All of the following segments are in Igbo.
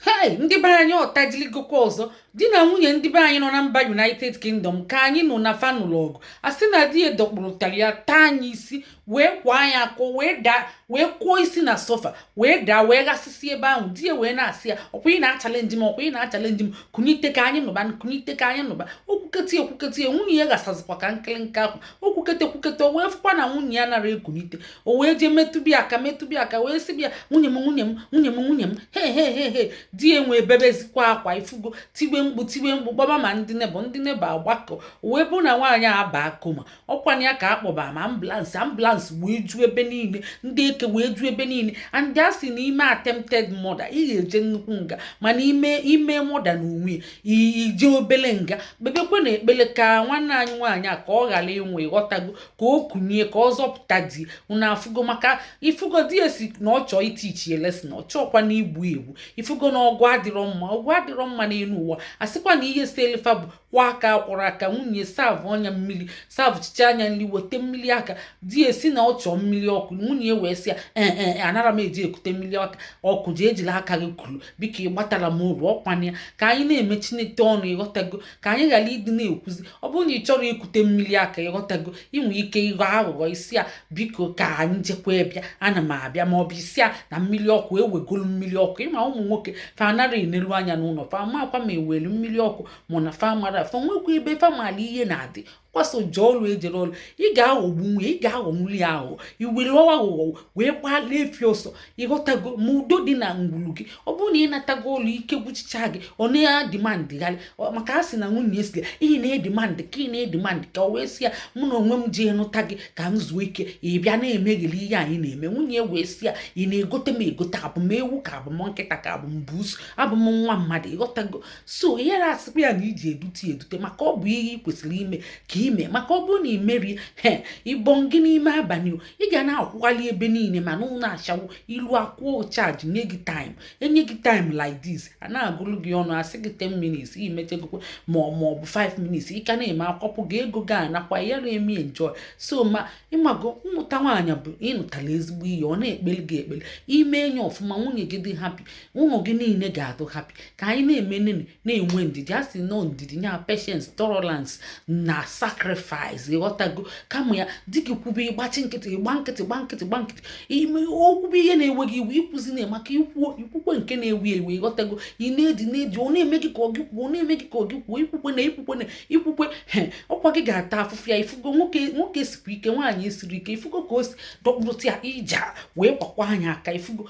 hei ndị be anyị ọtajiligokwa ọzọ di na nwunye ndị be anyị nọ na mba united kingdom ka anyị nụ na fa nụlụ ọgụ a sị na di ya dọkpụrụtara ya taa nya isi wee kwaa nya aka o wee daa wee kụọ isi na sofa wee daa wee ghasịsị ebe ahụ di ya wee na-asị ya ọkwa ị na-achalenji m ọkwa ị na-achalenji m kunite ka anyị nụba kunite ka anyị nụba o kwukete ekwukete nwunye ya ghasazikwa ka nkịlịnka akwa o kwukete kwukete wee fụkwa na nwunye ya anara ekunite o wee jee metụbe ya aka metụbe ya aka wee sị bịa nwunye m nwunye m nwunye m nwunye m he he he he di ya wee bebezikwa akwa ifugo tiwe mkpu tiwe mkpu kpọba ma ndị neighbour ndị neighbour agbakọ o wee bụ na nwaanyị a baa coma ọ kwa nya ka a kpọba ma ambulance ambulance wee ju ebe niile ndị eke wee ju ebe niile and a sị na i mee attempted murder ị ga-eje nnukwu nga mana i mee i mee murder na onwe ya i jee obele nga kpebekwenụ ekpele ka nwanne anyị nwaanyị a ka ọ ghara ịnwụ ịghọtago ka o kunie ka ọ zọpụta di unu afụgo maka ifugo di ya sị na ọ chọọ ịtiichi ya lesson ọ chọọkwanụ igbu ya egbu ifugo na ọgụ adịrọ mma ọgụ adịrọ mma n'elu ụwa a sịkwa na ihe seli fa bụkwa aka a kwọrọ aka nwunye savụọ nya mmiri savụchicha nya nri weta mmiri aka di ya sị na ọ chọọ mmiri ọkụ nwunye wee sị ya ee e, e, anara m eje ekute mmiri aka ọkụ jee jili aka gị kuru biko ị gbatara m oru ọ kwa nya ka anyị na-eme chineke ọnụ ịghọtago ka anyị ghara ịdị na-ekwuzi ọ bụrụ na ị chọrọ ikute mmiri aka ịghọtago i nwe ike ịghọ aghụghọ ị sị ya biko ka anyị jekwa bịa ana m abịa ma ọ bụ ị sị ya na mmiri ọkụ e wegolu mmiri ọkụ ị ma ụmụ nwoke fa anara enelu anya n'ụlọ fa amakwa ma e welu mmiri ọkụ mụ na fa mara fa nwekwa ebe fa mara ihe na-adị kwa sọ jee ọlụ e jere ọlụ ị ga-aghọgbu nya ị ga-aghọgbuli ya aghụghọ i were aghụghọ wee gbanaa efi ọsọ ịghọtago ma udo dị na ngwulu gị ọ bụrụ na ị natago ọlụ ike gwụchicha gị ọ na-edimandịgharị maka a sị na nwunye ya sị ya ị na-edimandị ka ị na-edimandị ka o wee sị ya mụ na onwe m ji nụta gị ka m zuo ike ị bịa na-emegheli ihe anyị na-eme nwunye wee sị ya ị na-egote m egote abụ m ewu ka abụ m nkịta ka abụ m buusu abụ m nwa mmadụ ịghọtago so ihere asịkwa ya na iji edute edute maka ọ bụ ihe ị kwesịrị ime ka ime maka ọ bụrụ na i merọ ya ịbọ gị n'ime abalị ị ga na-akwụghalị ebe niile ma n'ụlọ ashawo i luo a kwụọ charge nye gị time e nye gị time like this a na-agụrụ gị ọnụ a sị gị 10 minutes i mechegokwa ma ọ ma ọ bụ 5 minutes ị ka na-eme a kwapụ gị ego gị anakwa ya na-eme enjoy so ma ị mago ịnụta nwaanyị bụ ịnụtala ezigbo ihe ọ na-ekpelu gị ekpele i mee nya ọfụma nwunye gị dị happy ụmụ gị niile ga-adị happy ka anyị na-eme nene na-enwe ndidi a sị na ọ ndidi nya patience tolerance na sacrifice ịghọtago kama ya di gị kwube ị gbachi nkịtị ị gba nkịtị gba nkịtị gba nkịtị ime o kwube ihe na-ewe gị iwe ikwuzina maka i kwuo i kwukwe nke na-ewe iwe ịghọtago ị na-edi na-edi ọ na-eme gị ka ọ gị kwuo ọ na-eme gị ka ọ gị kwuo ikwukwena ikwukwena ikwukwe he ọkwa gị ga-ata afụfụ ya ifugo nwoke nwoke sikwa ike nwaanyị esiri ike ifugo ka o si dọkpụrụta ya ija wee kwakwa nya aka ifugo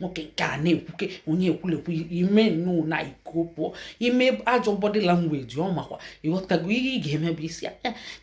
nwoke nke a na-ekwuke onye ekwulekwu ime nnụụ na iko pụọ ime ajọ body language ọ makwa ị ghọtago ihe ị ga-eme bụ ịsị ya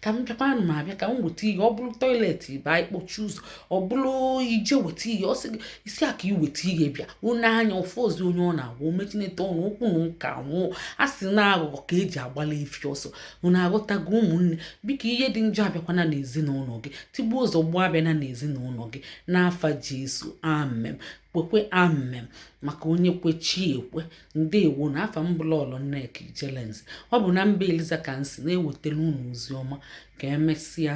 ka m bịakwa ana m abịa ka m weta ihe ọ bụrụ toilet ba ịkpọchi ụzọ ọ bụrụ ije weta ihe ọ sị gị ị sị ya ka i weta ihe bịa onye anya ofe ozi onye ọ na-agwa omechinete ọnụ okwu na nka nwụọ a sị na aghụghọ ka e ji agbala efi ọsọ unu aghọtago ụmụnne biko ihe dị njọ abịakwana n'ezinụlọ gị tigbuo zọgbuo abịana n'ezinụlọ gị n'afa jesu amem kwekwe amem maka onye kwe chi ekwe ndewonụ afa m bụ lọọlọ nneka ijelenze ọ bụ na mba eliza ka m si na-ewetara unu ozi ọma ka emesịa